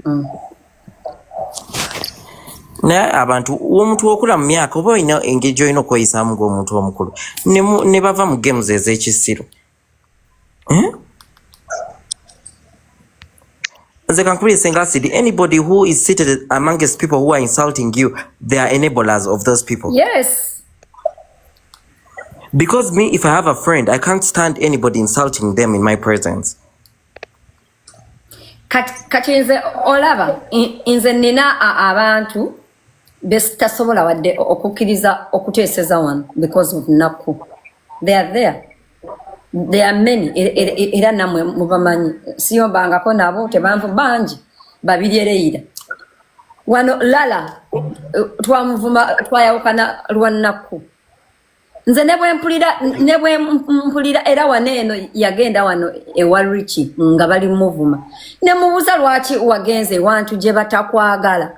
mm. naye abantu omuntu okula mu myaka oba olina engeri gyolina okweyisaamu ngaomuntu omukulu ne bava mu games ez'ekisiru eh? nze kankubira esenga asidi anybody who is seated amongst people who are insulting you they are enablers of those people yes Because me, if I have a friend, I can't stand anybody insulting them in my presence. kati nze olaba nze nina abantu besitasobola wadde okukkiriza okuteeseza wano because of nakku they are there they are many e, e, e, era namwe mubamanyi siyombangako nabo tebanvu bangi babiri ereyira wano lala twamuvuma twayawukana lwa nakku nze nebwempulira nebwempulira era wano eno yagenda wano ewa richi nga bali muvuma nemubuuza lwaki wagenze ewantu gye batakwagala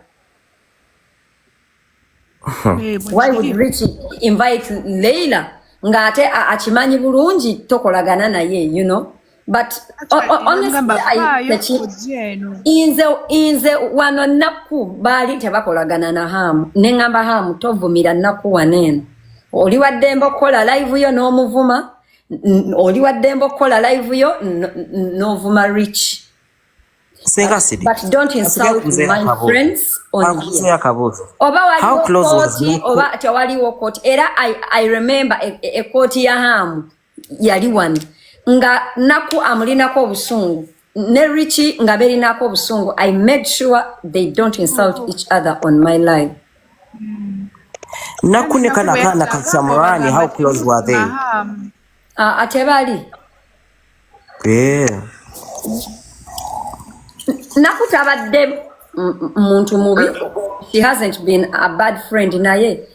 eh, why would richi invite leila ng'ate akimanyi bulungi tokolagana naye you know but nze nze wano nakku baali tebakolagana na haamu ne ŋŋamba haamu tovumira nakku wano eno oli waddembe okukola live yo n'omuvuma oli waddembe okukola live yo n'ovuma rich oba waliwo kooti oba tewaliwo kooti era i remember ekooti e, e ya haamu yali wano nga naku amulinako obusungu ne richi nga berinako obusungu i made sure they don't insult oh. each other on my life naku ne kana kana kasamurani how close were they uh, ate bali yeah. naku tabadde muntu mubi she hasn't been a bad friend naye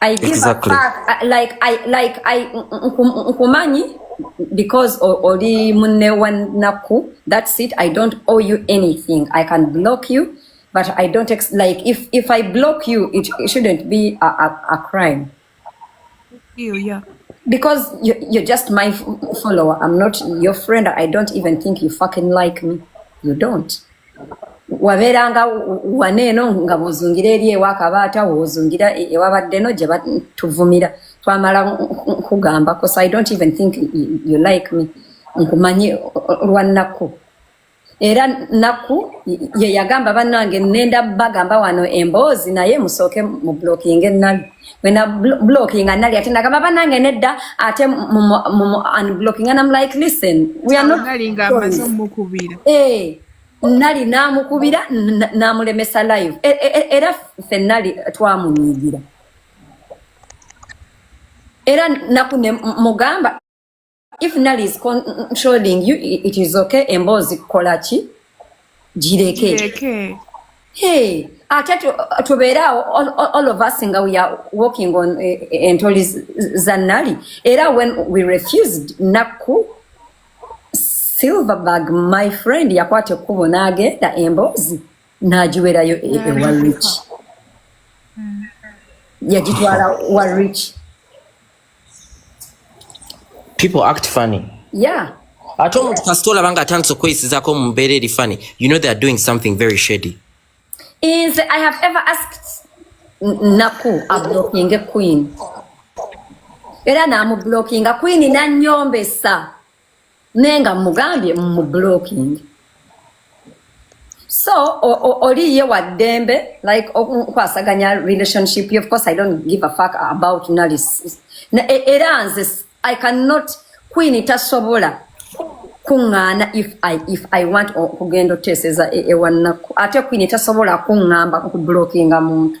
I give exactly. a fuck. I, like I like I nkumanyi because oli munne wa nakku that's it I don't owe you anything I can block you but I don't ex like if if I block you it, it shouldn't be a, a, a crime you yeah because you, you're just my follower I'm not your friend I don't even think you fucking like me you don't wabeeranga wana eno nga bwozungira eri ewa kabaata wozungira e, ewabadde no gye batuvumira twamala nkugamba cause i don't even think you like me nkumanyi lwa nakku era nakku ye yagamba bannange nenda bagamba wano emboozi naye musooke mu blocking ennabi wena blocking nali ate nagamba banange nedda ate unblocking and I'm like listen we are not nali nga amaze mukubira eh nali namukubira namulemesa live e, e, e, era ffe nali twamunyigira era naku ne mugamba if nali is controlling you it is okay emboozi kukola ki gireke hey ate tubeeraawo all of us nga we are walking on eh, eh, entoli za nali era when we refused nakku silverberg my friend yakwata ekkubo n'agenda emboozi n'agiwerayo e, e wa rich yagitwala wa rich people act funny yeah ate omuntu kasita olaba nga atandise okweyisizako mu mbeera eri funny you know they are doing something very shady is i have ever asked naku ablockinge queen era namublockinga queen nanyombesa naye nga mugambye mu blocking so oli ye wa ddembe like okwasaganya relationship of course i don't give a fuck about nalis e, era nze i cannot queen tasobola kuŋŋaana if i if i want okugenda oteeseza e, ewannaku ate queen tasobola kuŋŋamba okublockinga muntu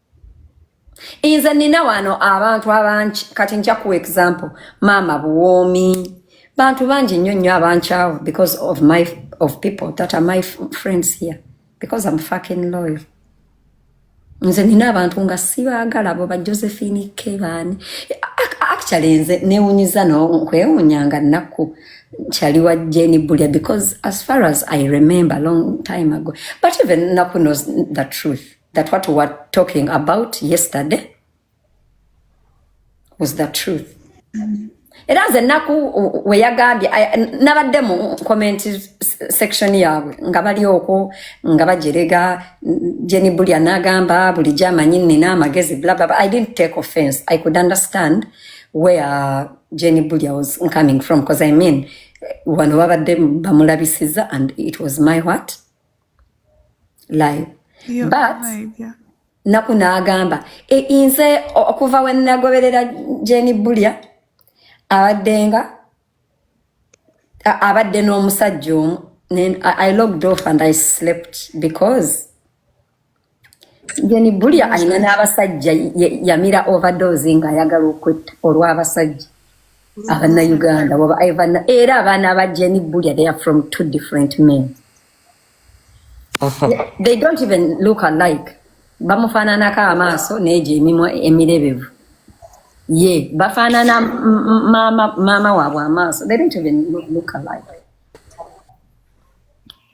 nze nina wano abantu abangi kati nja kuwa example maama buwoomi bantu bangi nnyo nnyo abankyawo because of my of people that are my friends here because am fucking loyal nze nina abantu nga sibaagala bo ba josephine kebani actually nze newunyiza nokwewunya nga nakku kyali wa jeni bulya because as far as i remember long time ago but even nakku knows the truth that what we were talking about yesterday was the truth era nze ennaku weyagambye nabadde mu comment section yaabwe nga bali okwo nga bajerega jeni bulya nagamba bulijjo amanyi nina amagezi blablabla i didn't take offense i could understand where jeni bulya was coming from because i mean wano babadde bamulabisiza and it was my what live Yo, but live, yeah. naku n'agamba "E- nze o- okuva we nagoberera jeni bulya abaddenga a- abadde n'omusajja omu Nen- I, i logged off and i slept because Geni bulya alina n'abasajja yamira overdose nga ayagala okwetta olw'abasajja abannayuganda waba ivana era abaana ba Geni bulya they are from two different men they don't even look alike bamufaananako amaaso neegyo emimwa emirebevu ye bafaanana maama waabwe amaaso they don't even look alike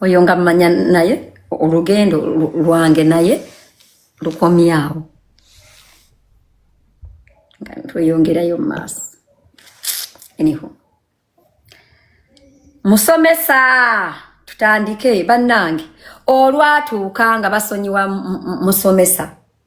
oyo nga mmanya naye olugendo lwange naye lukomyawo nga tweyongerayo mu maaso anyhow musomesa tutandike bannange olwatuuka nga basonyiwa musomesa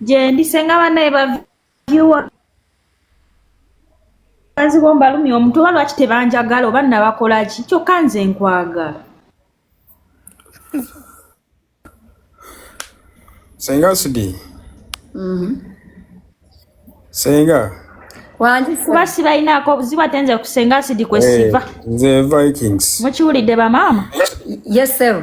gyendi senga banaye baviwa baziwo mbalumya omuntu oba lwaki tebanjagala oba nabakolaki kyokka nze nkwagala senga sidi mm-hmm. senga kuba sibalinaako obuzibu ate nze kusenga sidi kwesiva eh, nze vikings mukiwulidde bamaama yesero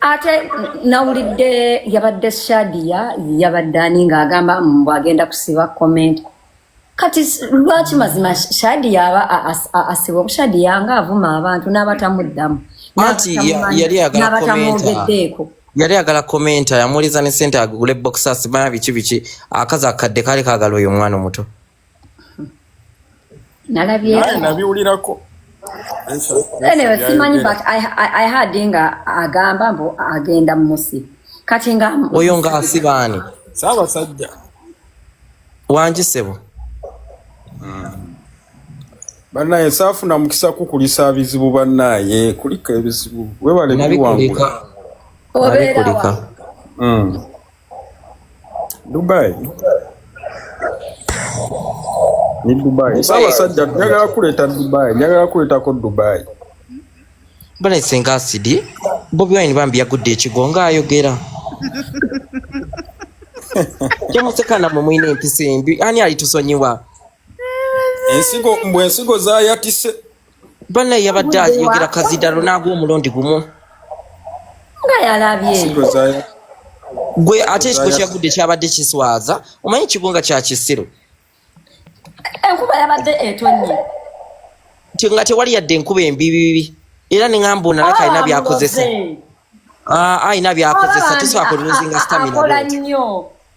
ate nawulidde yabadde shadia yabadde ani ng'agamba mbu agenda kusiba comment kati lwaki mazima shadia aba asiba obushadia nga avuma abantu n'abatamuddamu n'abatamwogeddeeko yali agala komenta yamuuliza ne sente agule boxas bana biki biki akazi akadde kali kagala oyo omwana omuto nalabynabiwulirako anyway simanyi but I, I, I had nga agamba mbu agenda mumusi kati nga oyo nga asibaani saabasajja wangi sebo hmm. banaye saafuna mukisa kukulisa bizibu banaye kulika ebizibu webale biwangula obeerawa Dubai ni Dubai Ssaabasajja njagala kuleeta Dubai njagala kuleetako Dubai balaise nga asidi Bobi Wine bambi yagudde ekigo nga ayogera kyemuseka namwe mulina empisa embi ani alitusonyiwa ensigo mbwe ensigo zayatise Bana yabadde ayogera kazidalo n'agwa omulundi gumu nga yalabye gwe ate ekifo kyagudde kyabadde kiswaza omanyi kigunga kya kisiru enkuba yabadde etonnye nga tewali yadde enkuba embibibi era neŋamba onalaka alina ah, byakozesa alina ah, byakozesa tesobola kululuzinga stamina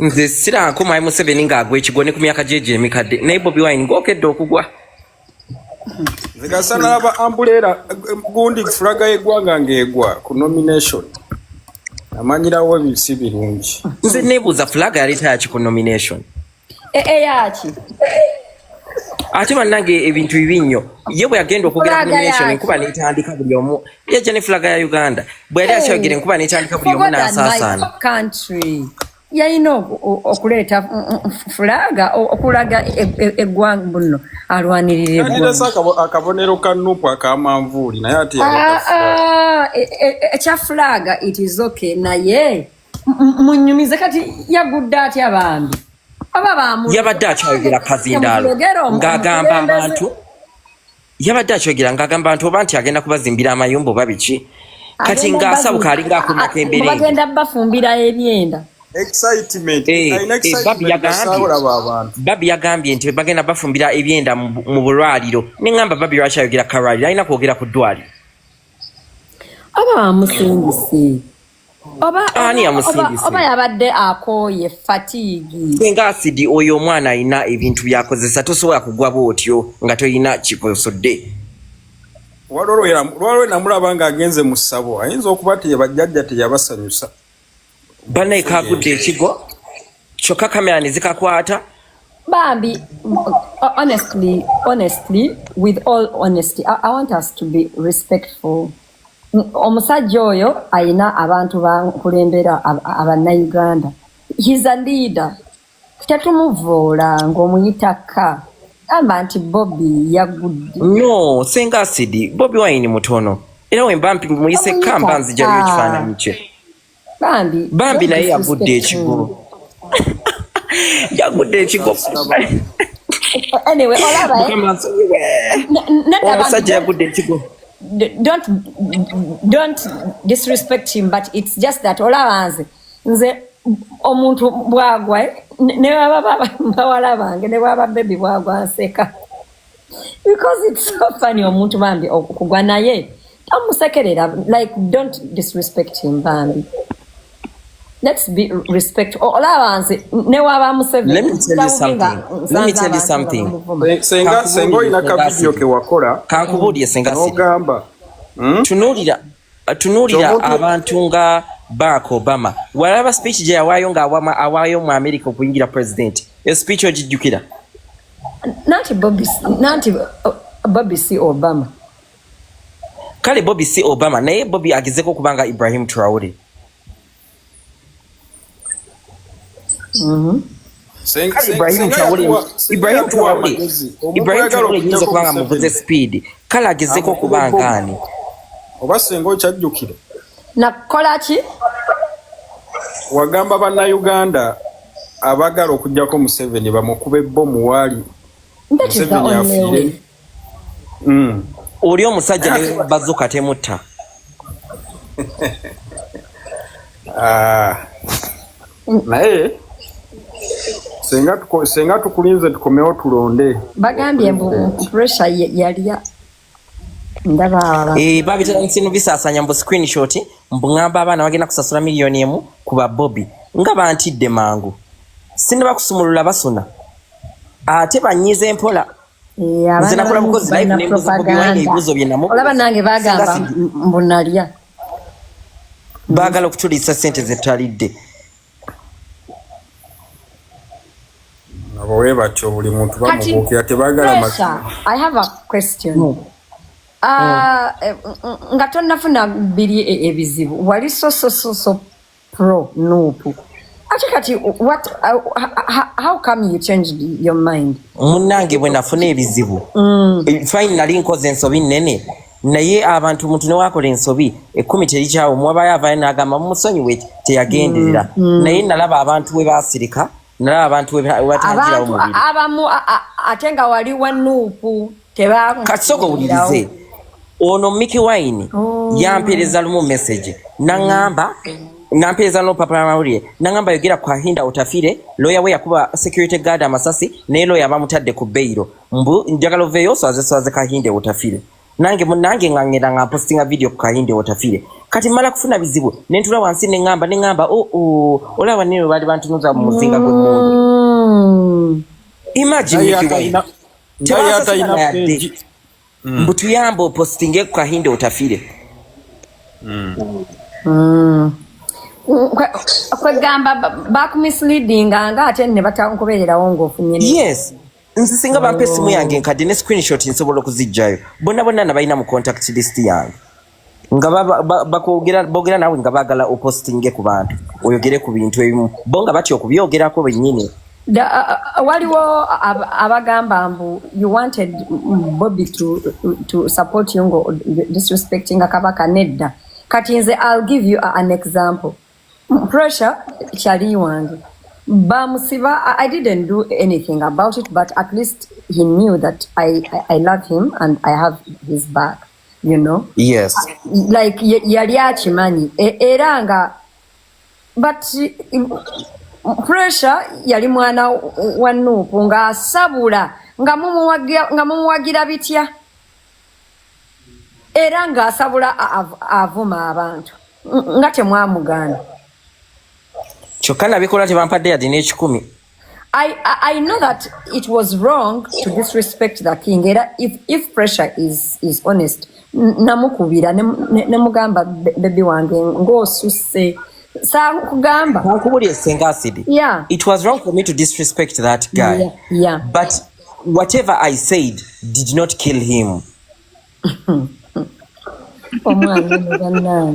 nze siranko mwai museveni ng'agwa ekigo ne ku myaka gye gye emikadde naye bobi wine ng'okedde okugwa nzigasa n'aba ambuleera gundi fulaga y'eggwanga ng'egwa ku nomination amanyirawo ebisi birungi nze neebuuza fulaga yaleeta yaki ku nomination eyaki eh, eh, ate bannange ebintu bibi nnyo ye bwe yagenda okwogera kuation enkuba netandika buli omu yajja ne fulaga ya uganda bwe yali akyogera enkuba netandika buli omu n'asaasaana yalina okuleeta fulaga okulaga eggwanga bunno alwanirire akabonero ka nupu akamanvuuli naye ati ekya fulaga it is okay naye munyumize kati yagudde atya bambi yabadde akyayogera kazindaalo ng'agamba abantu yabadde akyogera ng'agamba nti oba nti agenda kubazimbira amayumba oba biki kati ng'asabuka alinga akomyako embereebagenda bafumbira ebyenda eh, eh, babi yagambye nti bagenda bafumbira ebyenda mu bulwaliro neŋamba babi lwaki ayogera kalwaliro alina kwogera ku ddwaliro aba bamusingise oba ani yamusindise oba yabadde akooye fatigi singa asidi oyo omwana alina ebintu byakozesa tosobola kugwa bwotyo nga tolina kikosodde lwalwe namulaba nga agenze mu ssabo ayinza okuba ti bajjajja teyabasanyusa banaye kagudde ekigo kyokka kamera ne zikakwata bambi honestly honestly with all honesty i, I want us to be respectful omusajja oyo ayina abantu bankulembera abanauganda hes a leader tetumuvoola ngaomuyita ka gamba nti bobi yagudde no senga asidi bobi wayini mutono era wemba muyise ka mba nzijayo ekifaananyi kye bambi bambi naye yagudde ekigo yagudde ekigo anyway olaba eh? omusajja yagudde ekigo don't don't disrespect him but it's just that olaba nze nze omuntu bwagwa eh? ne baba bawala bange ne baba bebi bwagwa nseka because it's so funny omuntu bambi okugwa naye tomusekerera like don't disrespect him bambi let's be respect olaba nze newaba musevensenga olina kavidiyo kewakora kankubulire senga ogamba hmm? tunulira tunuulira abantu nga barak obama walaba speech gye yawaayo nga awaayo mu america okuyingira president eyo speech ogijjukira nanti bobi si obama kale bobi si obama naye bobi agezeko okubanga ibrahim traore Mm-hmm. Ibrahim Traore Ibrahim Traore Ibrahim Traore yinza kubanga muvuze speed kala agezeko kubanga ani oba senga okyajjukira nakukola ki wagamba bannayuganda abagala okujjako museveni bamukube bo muwaali museveni afiire mm. oli omusajja ne bazuka temutta ah. naye senga tukulinze tukomewo tulonde bagambye mbu pressure yalya eh, babitandise nobisasanya mbu screenshot mbu ngamba abaana bagenda kusasula miliyoni emu ku babobi nga bantidde mangu sinabakusumulula basuna ate banyize mpola nze nakola mukozi live nembuza bobi wine ebibuzo bye namu olaba nange bagamba mbu nalya bagala okutulisa sente zetalidde abo webatyo buli muntu bamubuukira tebagala i have a question no. Hmm. Ah, hmm. eh, nga tonafuna biri e, ebizibu wali sosososo pro nup ate kati what uh, how, how come you changed your mind munange bwe nafuna ebizibu mm. Eh, fine nali nkoze ensobi nnene naye abantu muntu newakola ensobi ekumi terikyawo mwabayo avayo nagamba mumusonyiwe teyagenderera mm, mm. naye nalaba abantu we basirika nalaba abantu webatagirawo mubiri abamu ate nga wali wanuupu katisoko wulirize ono miki wine oh. yampereza lumu message nangamba nampereza nolupapula lwamawulire nangamba yogera ku ahinda otafire looya we yakuba security guard amasasi naye looya bamutadde ku beyiro mbu njagala oveeyo oswazeswaze kahinde otafire nange munange nga ngenda nga mpostinga video ku kahinde otafire kati mala kufuna bizibu nentula wansi nengamba nengamba oo oh, oh, olaba nino bali bantunuza mu muzinga gwemundu mm. imagine tebasasalayadde mm. mbu tuyamba opostinge ku kahinde otafire mm. mm. kwegamba bakumisleadinga nga ate ne batakubeererawo ngaofunye yes nze singa bampa esimu yange nkadde ne screenshot nsobola okuzijjayo bonna bonna nabalina mu contact list yange nga bakwogera bogera nawe nga bagala opostinge ku bantu oyogere ku bintu ebimu bo nga batya okubyogerako bennyini waliwo abagamba mbu you wanted bobi to, to support you ngo disrespecting kabaka nedda kati nze i'll give you an example pressure kyali wange bamusiba i didn't do anything about it but at least he knew that i, I, I love him and i have his back you know yes like yali akimanyi e, era nga but pressure yali mwana wa nuupu ng'asabula nga mumuwagira bitya era ng'asabula avuma abantu nga temwamugaana kyokka nabikola tebampadde yadina ekikumi I, I know that it was wrong to disrespect the king era if, if pressure is, is honest namukubira nemugamba ne, ne bebi wange ng'osusse sakugamba nakubulira esenga asidi yeah. it was wrong for me to disrespect that guy yeah, yeah. but whatever i said did not kill him omwana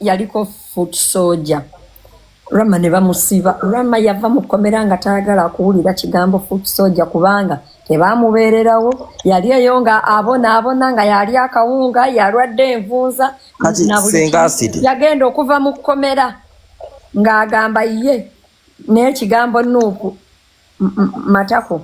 yaliko foot soja rama ne bamusiba rama yava mu kkomera nga tayagala kuwulira kigambo foot soja kubanga tebamubeererawo yali eyo nga abonaabona nga yali akawunga yalwadde envunza yagenda okuva mu kkomera ng'agamba ye naye kigambo nuupu matako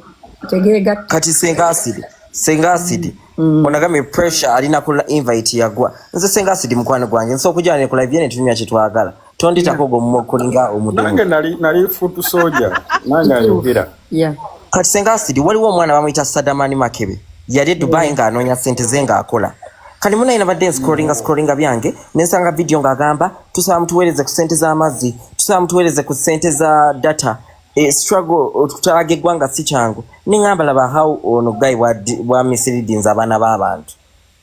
tegeega kati senga asidi senga asidi mm. onagambye pressure alina ku invite yagwa nze senga asidi mukwano gwange nsobola okujala ne ku live yene tunyumya kye twagala tonditako ogwo mumokulinga omudengo nange nali nali foot soldier nange ayogera yeah. kati senga asidi waliwo omwana bamuyita sadamani makebe yali e dubai yeah. ng'anoonya sente ze ng'akola kati munaye nabadde nscrollinga scrollinga byange nensanga vidiyo ng'agamba tusaba mutuweereze ku sente z'amazzi tusaba mutuweereze ku sente za data Eh, struggle okutalaga eggwanga si kyangu neŋamba laba how ono guy wa misleadings abaana b'abantu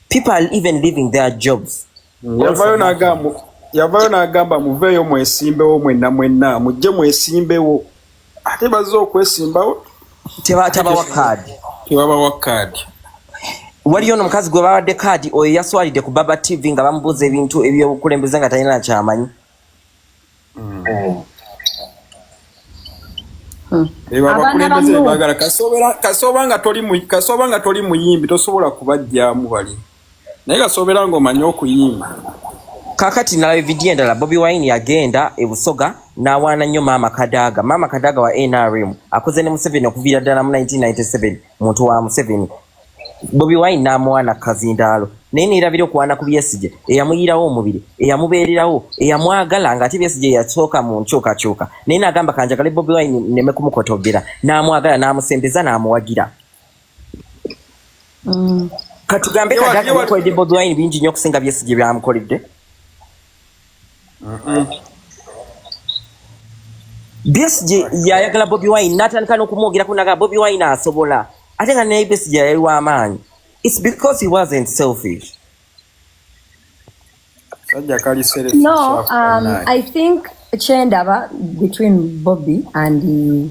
people are even leaving their jobs yavayo n'agamba yavayo n'agamba muveeyo mwesimbewo mwenna mwenna mujje mwesimbewo ate bazze okwesimbawo tebawa kaadi tebabawa kaadi waliyo ono omukazi gwe babadde kaadi oyo yaswalidde ku baba tv nga bamubuuza ebintu ebyobukulembeze nga talina kyamanyi abakulembeze bagala kasobola nga toli kasobola nga toli muyimbi tosobola kubajjamu bali naye kasobola nga omanyi okuyimba kakati nalaba evidiyo endala bobi wine yagenda ebusoga nawaana nnyo maama kadaga maama kadaga wa nrm akoze ne museveni okuviira ddala mu 1997 muntu wa museveni bobi wine n'amuwaana kazindaalo naye neerabira okuwaana ku byesigye eyamuyiirawo omubiri eyamubeererawo eyamwagala ng'ate byesigye yasooka mu nkyukakyuka naye n'agamba kanjagale bobi wine neme kumukotogera n'amwagala n'amusembeza n'amuwagira mm. katugambe kadakoledde bobi wine bingi nnyo okusinga byesigye byamukoledde Besigye yayagala Bobi Wine n'atandika n'okumwogerako naga Bobi Wine asobola ate nga naye Besigye yali w'amaanyi it's because he wasn't selfish sajja kali selfish no um, I think kyendaba between Bobi and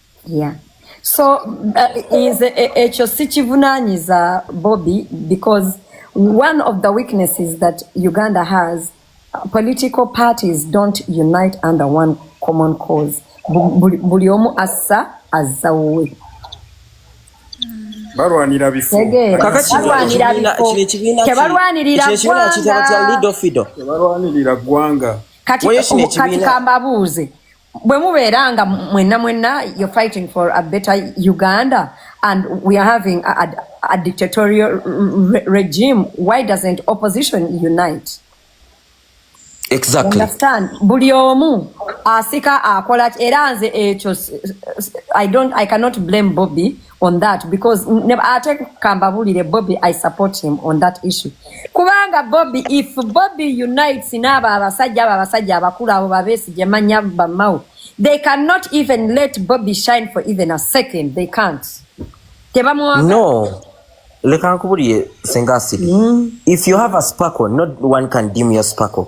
yeah so uh, is e, e, ekyo sikivunanyiza bobby because one of the weaknesses that uganda has political parties don't unite under one common cause buli omu assa azza wuwe balwanira bifotebalwanirira ggwanga kati kambabuuze bwe mubeera nga mwenna mwenna you're fighting for a better uganda and we are having a, a, a dictatorial re regime why doesn't opposition unite exactly understand buli omu asika akola era nze ekyo i don't i cannot blame bobby on that because ate kambabulire bobi i support him on that issue kubanga bobi if bobi unites naabo abasajja abo abasajja abakulu abo babesigye manya bamawo they cannot even let bobi shine for even a second they can't tebamwaga no leka nkubulire senga asidi mm. if you have a sparkle not one can dim your sparkle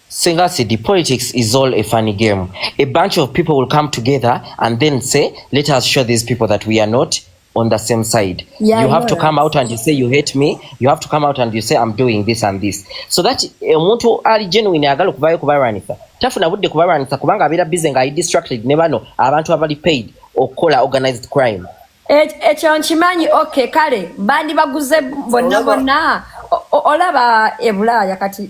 Sengasi, the politics is all a funny game. A bunch of people will come together and then say, let us show these people that we are not on the same side. Yeah, you have to come out and you say you hate me. You have to come out and you say I'm doing this and this. So that eh, omuntu ali genuine agala okuvayo kubalwanyisa tafuna budde kubalwanyisa kubanga abeera busy nga i distracted ne bano abantu abali paid okukola organized crime. Ekyo nkimanyi okay kale bandi baguze bonna bonna olaba ebulaaya kati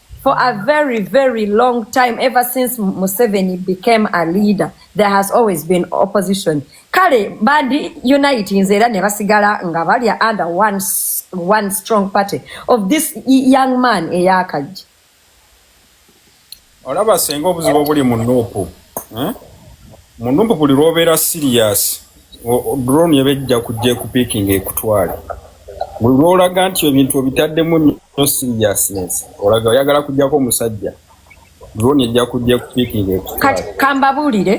For a very, very long time, ever since Museveni became a leader, there has always been opposition. Kale, bandi unite in Zera Nevasigala Ngavalia under one, one strong party of this young man, Eyakaji. Olaba senga obuzibu obuli mu nupu. Eh? Mu nupu buli lwobeera serious. drone eba ejja kujja ekupiikinga ekutwale buli lwolaga nti ebintu obitaddemu nyo seriousness olaga oyagala kujjako omusajja drone ejja kujja ekupiikinga ekutwale kambabuulire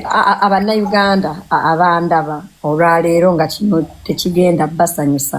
abannayuganda abandaba olwaleero nga kino tekigenda basanyusa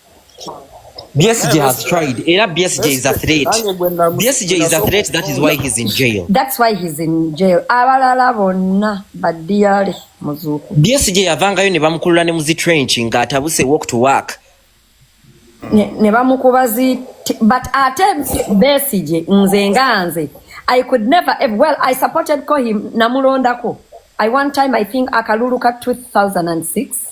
BSJ yeah, has tried. Era BSJ is a threat. BSJ is a threat. That is why he's in jail. That's why he's in jail. Abalala bonna badiyale muzuku. BSJ yavangayo ne bamukulula ne muzi trench nga atabuse walk to work. Ne, ne bamukuba zi but ate BSJ nze nga nze I could never ever, well I supported ko him namulondako. I one time I think akalulu ka 2006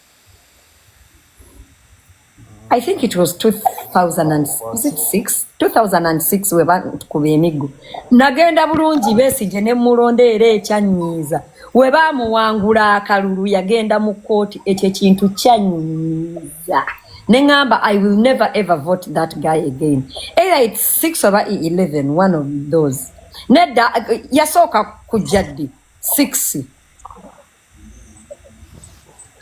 I think it was 2006 2006 we bakuba emiggo nagenda bulungi besigye ne mulonda era ekyanyiiza we bamuwangula akalulu yagenda mu kkooti ekyo ekintu kyanyiiza ne ŋamba i will never ever vote that guy again either it 6 oba 11 one of those nedda yasooka kujja ddi 6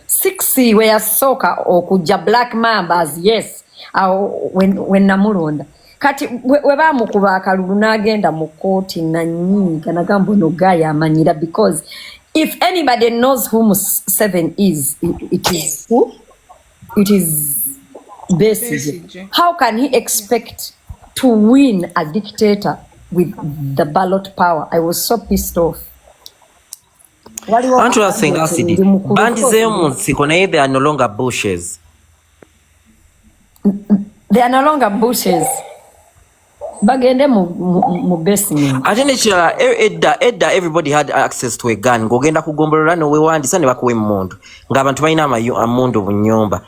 sixi we yasooka okujja black mambas yes awo wenamulonda kati webamukuba akalulu nagenda mu kooti nanyiiga nagamba ono guy amanyira because if anybody knows who museven is it is who it is besige how can he expect to win a dictator with the ballot power i was so pissed off bandizeyo mu nsiko naye they are no longer bushes they are no longer bushes bagende mu basement ate nekirala e, edda edda everybody had access to a gun ng'ogenda kugombolola nowewandisa ne bakuwa emmundu ng'abantu balina amundu mu nyumba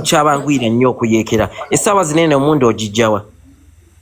kyabanguyira nnyo okuyekera essaawa zinene omundu ogijjawa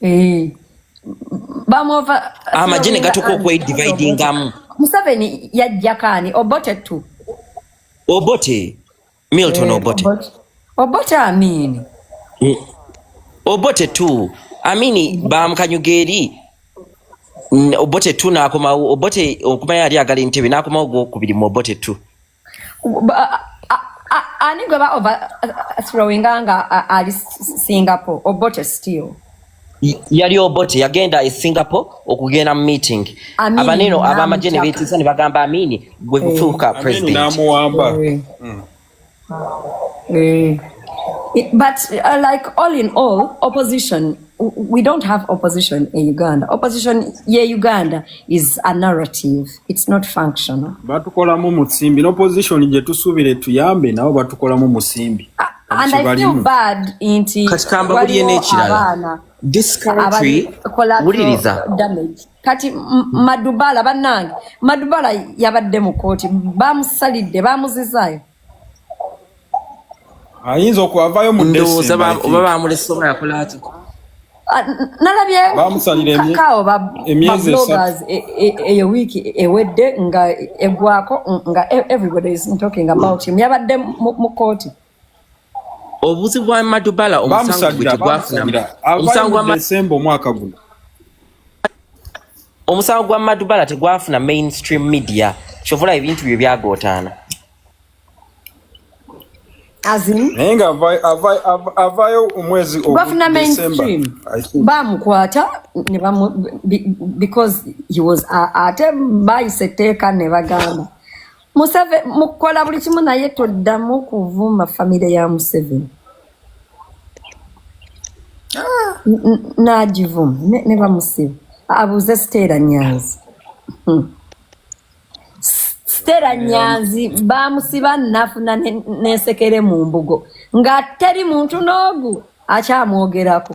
Eh, amagye ne gatuka okwedividingamu museveni yajjakaani obote tu obote milton eh, obote obote amini eh, obote tu amini bamukanyuga eri obote tu nakomawo obote okumayo ali agala entebe nakomawo gwokubiri mu obote tu ani gwe ba overthrowinga uh, uh, nga uh, ali singapore obote still yali obote yagenda e singapore okugenda mu meeting abaneno abamagye ne beetiisa ne bagamba amini gwe eh. kufuuka presidentnamuwamba eh. hmm. eh. but uh, like all in all opposition we don't have opposition in Uganda. Opposition yeah, Uganda is a narrative. It's not functional. Batukolamu musimbi. Opposition je tusubire tuyambe nabo batukolamu musimbi. Uh, and I feel bad inti katikamba buliye n'ekirala this country wuliriza kati madubala bannange madubala yabadde mu kkooti bamusalidde bamuzizaayo ayinza okwavayo mu ndowooza oba bamulese oba yakola atya ah, nalabye kakaawo bablogers e, e, eyo wiiki ewedde nga egwako nga e, everybody is talking about him yabadde mu kooti obuzi bwa madubala omusango gwe tegwafuna omusango wa omwaka guno Omusango gwa Madubala tegwafuna mainstream media kyovola ebintu byo byagootaana naye nga avaayo omwezi bafuna mainstream bamukwata because he was ate bayise etteeka ne bagamba museve mukola buli kimu naye toddamu kuvuma famire ya museveni ah. nagivuma ne bamusiba abuuze siteera nyanzi hmm. siteera nyanzi bamusiba nafuna nensekere mu mbugo nga teri muntu n'ogu akyamwogerako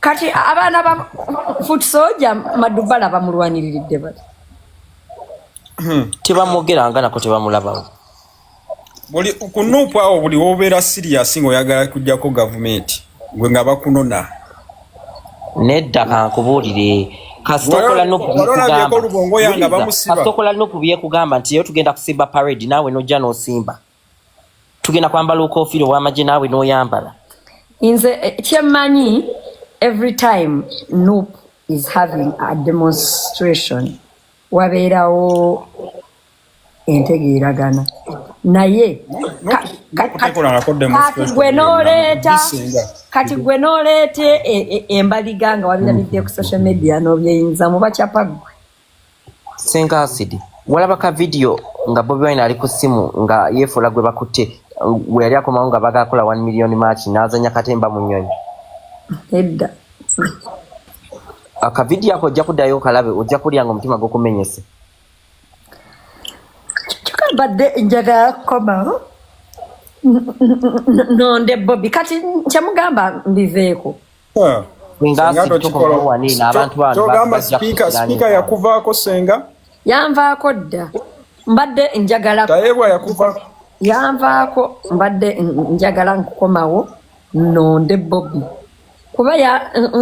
kati abaana ba foot soja madubala bamulwaniriridde bati hmm, tebamwogeranga nako tebamulabawo buli kunuupu awo buli wobeera siriyasi ngaoyagala kujjako gavumenti gwe nga bakunona nedda kankubuulire kasitokola nokubyekugamba nti yo tugenda kusimba parade naawe nojja nosimba tugenda kwambala okofiira owamagye naawe noyambala nze eh, kyemmanyi every time nup is having a demonstration wabeerawo entegeeragana naye kati gwe noleeta kati gwe noleeta e, e, embaliga nga wabiramidde ku social media nobyeyinza mubakyapa gwe Senga Acid, walaba ka video nga Bobi Wine ali ku simu nga yefuula gwe bakutte gwe yali akomawo nga baga akola 1 million march n'azanya katemba mu nyonyi. Edda. Aka video ako ojja kudayo kalabe ojja kulya nga omutima gwo kumenyese. Kika badde njagala komawo. Nonde Bobi kati kyamugamba mbiveeko. togamba sipiika sipiika yakuvaako senga yanvaako dda mbadde njagala tayebwa yakuva yanvaako mbadde njagala nkukomawo nonde bobi kuba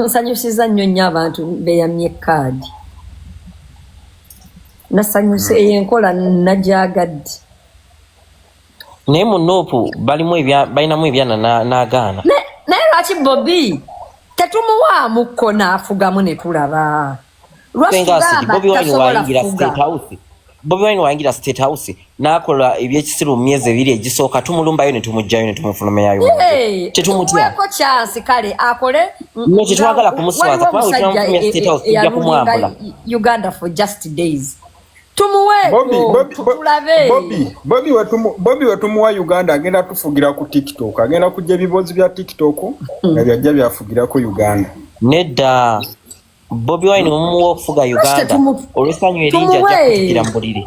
nsanyusiza nnyo nnyo abantu beyamye kaadi nasanyusa eyo enkola nagyagadde naye mu nuupu balimu balinamu ebyana n'agaana naye lwaki bobi tetumuwaamu kko n'afugamu ne tulaba bobi wine wayingira state house n'akola ebyekisiru mu myezi ebiri egisooka tumulumbayo ne tumugjayo ne tumufulumeyayo tetumutyako kyansi kale akole no tetwagala kumuswaza kubanga wetunamutumya state house tujja kumwambula uganda for just days bobi wetumuwa uganda agenda tufugira ku tiktok agenda kujja ebibozi bya tiktok mm. nga byajja byafugirako uganda nedda bobi wine omumuwa okufuga uganda olwesanyu eringi ajja kutikira mubulire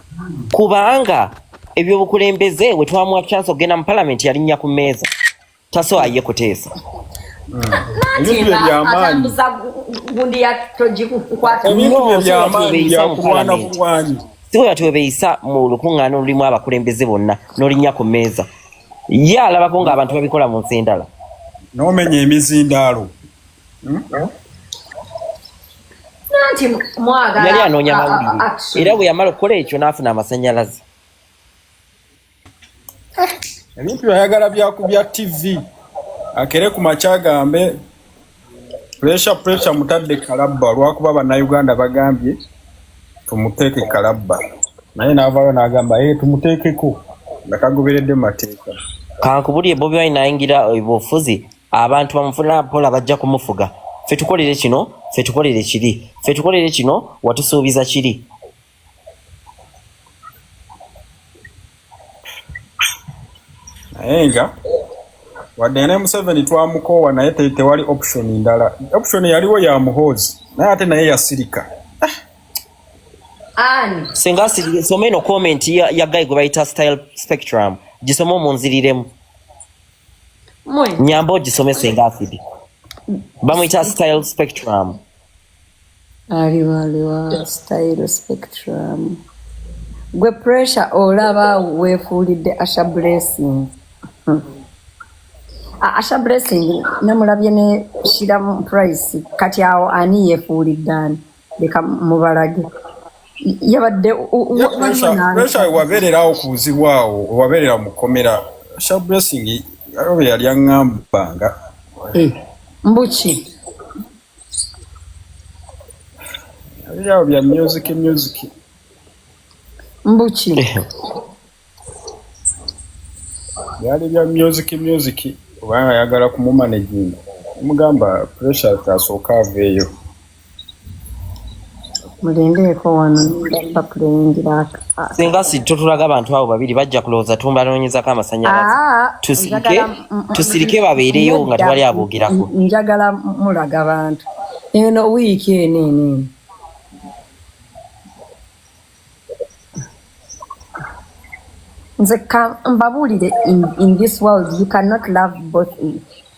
kubanga ebyobukulembeze we twamuwa chance okugenda mu palamenti yalinnya ku mmeeza taso aye kuteesa siwera twebeyisa mu lukuŋŋaana olulimu abakulembeze bonna n'olinnya ku mmeeza ye alabako ng'abantu babikola mu nsi endala n'omenya emizindaalo yali anoonya mawulire era bwe yamala okukola ekyo n'afuna amasanyalaze ebintu ayagala byakubya tv akere ku makya agambe puresha puresha mutadde kalabba olwakuba bannayuganda bagambye tumuteeke kalabba naye n'avaayo n'agamba ee eh, tumuteekeko nga kagoberedde mateeka kankubulye bobi wine ayingira obufuzi abantu bamufuna pola bajja kumufuga fe tukolere kino fe tukolere kiri fe tukolere kino watusuubiza kiri naye nga wadde ne museveni twamukoowa naye tewali option ndala option yaliwo ya muhoozi naye ate naye yasirika ani singa soma eno comment ya, ya guy gwe bayita style spectrum gisoma omunziriremu nyamba ogisomese nga afidi bamuyita style spectrum aliwa aliwa style spectrum gwe pressure olaba wefuulidde asha blessing asha blessing namulabye ne shira price kati awo ani yefuulidde ani leka mubalage yabadde wabeererawo ku buzibu awo wabeerera mu kkomera sha blessing abo bwe yali aŋambanga eh, mbuki yabirirawo bya music music mbuki eh. byali bya music music oba ayagala kumumanaginga omugamba pressure tasooka aveeyo mulindeeko wano nda puleyingira singa si totulaga abantu abo babiri bajja kulowooza tumbanoonyezako amasanyalaze ah, tusirike tusirike babeereyo nga tewali aboogerako njagala mulaga bantu eno wiiki eno eno eno nze mbabuulire in this world you cannot love both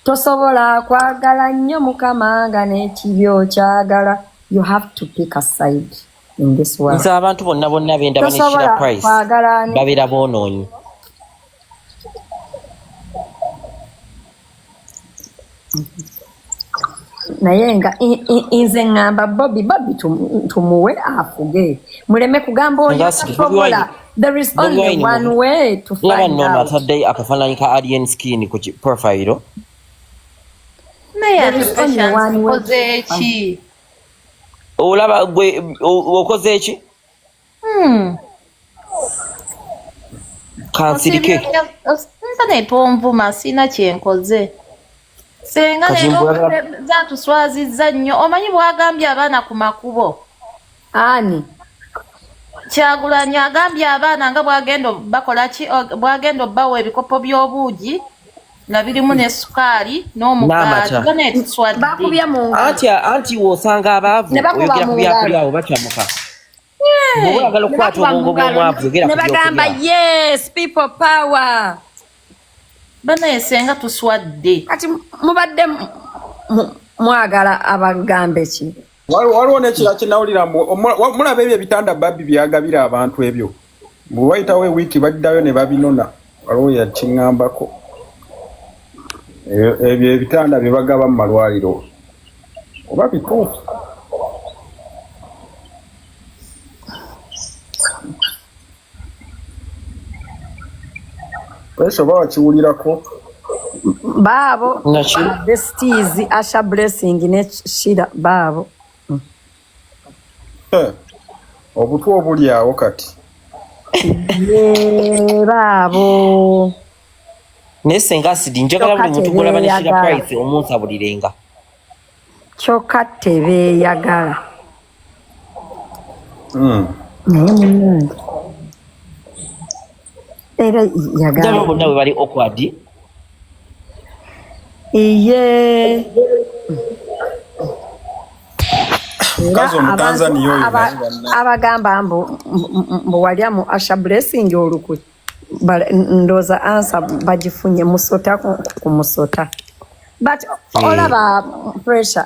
tosobola kwagala nnyo mukama nga n'ekibi okyagala you have to pick a side in this world nze abantu bonna bonna bendaba nekira price babeera boonoonyi naye nga i- i- inze ngamba bobi bobi tum- tumuwe afuge muleme kugamba oyo Nga si- Bobi tasobola Wine- there is Bobi only Wine one mu- way to laba find nno ono out atadde akafaananyi ka alien skin ku ki- profile naye There is ate only patience one way to okoze ki olaba gwe o- okoze ki Hmm. kansirike osinza netonvuma sirina kyenkoze senga zatuswaziza nnyo omanyi bwagambye abaana ku makubo ani kyagulanyi agambye abaana nga bwagenda bakola ki bwagenda obbawa ebikopo by'obuugi nga birimu ne sukaali n'omugaati anti wosanga abaavu oyogera ku byakulyawo bacamuka nebagamba yes people power banaye senga tuswadde kati mubadde mwagala abagambe ki waliwo nekira kinawulira mulaba ebyo ebitanda babbi byagabira abantu ebyo Bwe wayitawo ewiiki baddayo ne babinona, waliwo yakiŋŋambako. Ebyo ebyo ebitanda bye bagaba mu malwaliro oba bituufu? Kwesho oba wakiwulirako? Baabo, Naki? besties, Asha Blessing ne Shira baabo. Eh, obutwa obuli awo kati baabo naye senga asidi njagala buli muntu gwolaba ne shira price omunsabulirenga kyokka tebeeyagala hmm. naye munange era yagamba bonna bwe bali awkward iye abagamba mbu mbu walya mu asha blessing olukwe ndooza ansa bagifunye musota ku musota but olaba pressure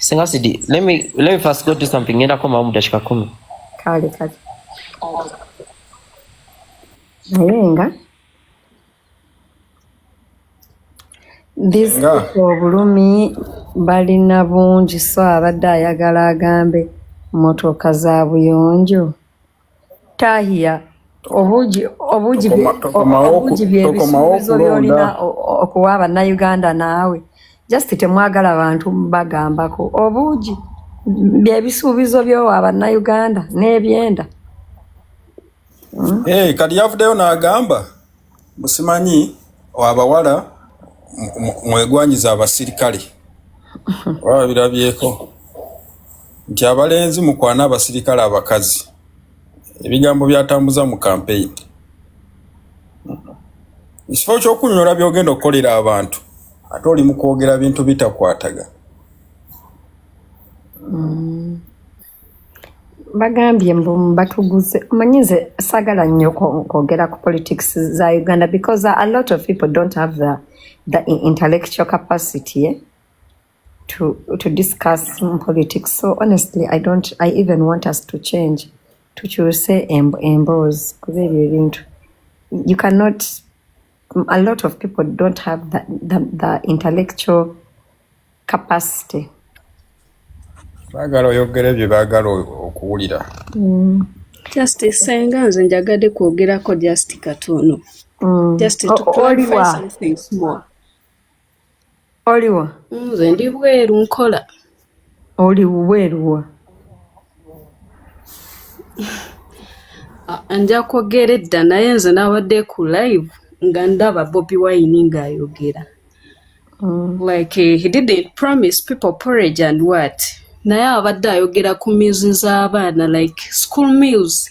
Singa sidi, let me let me first go do something. Nenda koma mu dakika 10. Kale kale. Nayenga. This obulumi balina bungi so abadde ayagala agambe motoka za buyonjo. tahiya obuugi obuugi obuugi byebisuubizo byolina okuwa abannayuganda naawe just temwagala bantu bagambako obuugi byebisuubizo byowa abannayuganda n'ebyenda hmm? eh, kati yavuddeyo n'agamba Musimanyi abawala mwegwanyiza abasirikale baba birabyeko nti abalenzi mukwana abasirikale abakazi ebigambo byatambuza mu kampeyini ekifo kyokunyonyola byogenda okukolera abantu ate oli mukwogera bintu bitakwataga mm. bagambye mbu batuguze omanyi nze sagala nnyo kwogera ku politics za uganda because a lot of people don't have the, the intellectual capacity eh, to, to discuss politics so honestly i don't i even want us to change tukyuse emboozi kuba ebyo ebintu you cannot a lot of people don't have the, the, the intellectual capacity bagala oyogera ebyo bagala okuwulira mm. justice senga nze njagade kwogerako just katono mm. just to oh, clarify something small oliwa nze ndi bweru nkola oli bweruwa nja kwogera edda naye nze nabadde ku live nga ndaba bobi wine ng'ayogera mm. like he didn't promise people porridge and what naye abadde ayogera ku meals z'abaana like school meals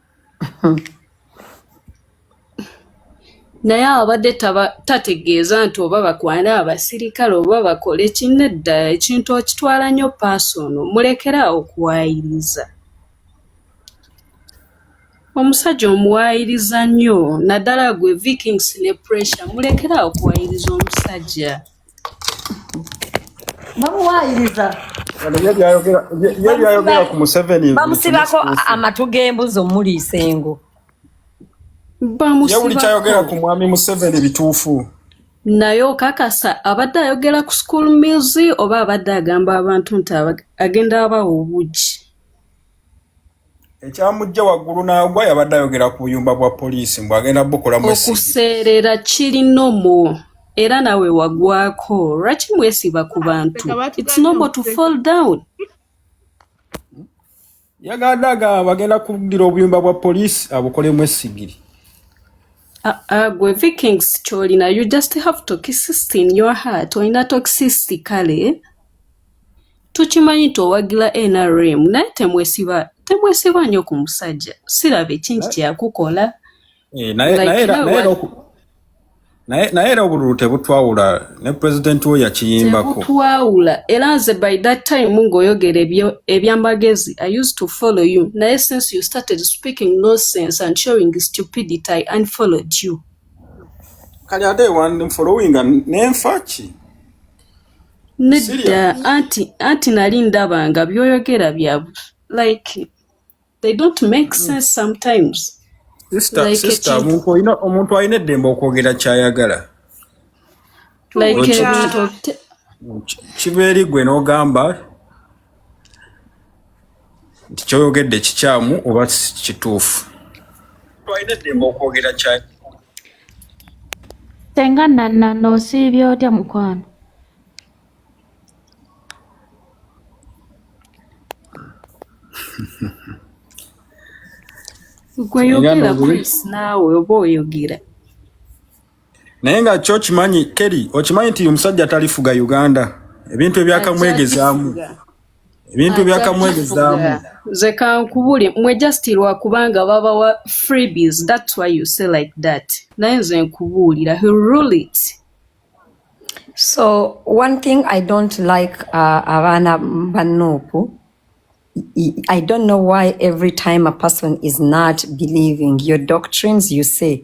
naye abadde tategeeza nti oba bakwana abasirikale oba bakole kinedda ekintu okitwala nnyo paasi ono mulekere awo okuwayiriza omusajja omuwayiriza nnyo naddala gwe vikings ne pressure mulekere awo okuwayiriza omusajja bamuwayiriza ye byayogera ku museveni bamusibako amatu g'embuzi omuliisa engo yawuli kyayogera ku mwami museveni bituufu naye okakasa abadde ayogera ku school mills oba abadde agamba abantu nti agenda abawa obugi ekyamujja waggulu n'agwa yabadde ayogera ku buyumba bwa poliisi mbu agenda bukolamu okuseerera kiri nomo era nawe wagwako lwaki mwesiba ku bantu its nomo to fall down yagadde agamba bagenda kuddira obuyumba bwa poliisi abukolemu esigiri ah, ah, gwe vikings kyolina you just have toxicity in your heart olina toxicity kale tukimanyi nti owagila nrm naye temwesiba temwesiba nyo ku musajja siraba ekingi kyeyakukola eh, naye era obululu tebutwawula ne pulezidenti we yakiyimbako tebutwawula era nze by that time ngaoyogera ebyamagezi i used to follow you naye since you started speaking no sense and showing stupidity i unfollowed you kali ate wanfolowinga nenfaki nedda anti anti nali ndaba nga byoyogera bya like they don't make mm. sense sometimes omuntu alina eddembe okwogera kyayagala kibeeri gwe n'ogamba nti kyoyogedde kikyamu oba kituufu twalina eddembe okwogera kyaki senga nanana osiibye otya mukwano gwe yogera chris naawe oba oyogera naye nga kyo kimanyi keri okimanyi nti omusajja talifuga uganda ebintu ebyakamwegezaamu ebintu ebyakamwegezaamu nze kankubuli mwe just lwakubanga babawa freebies thats why you say like that naye nze nkubuulira he rule it so one thing i don't like uh, abaana banuupu i don't know why every time a person is not believing your doctrines you say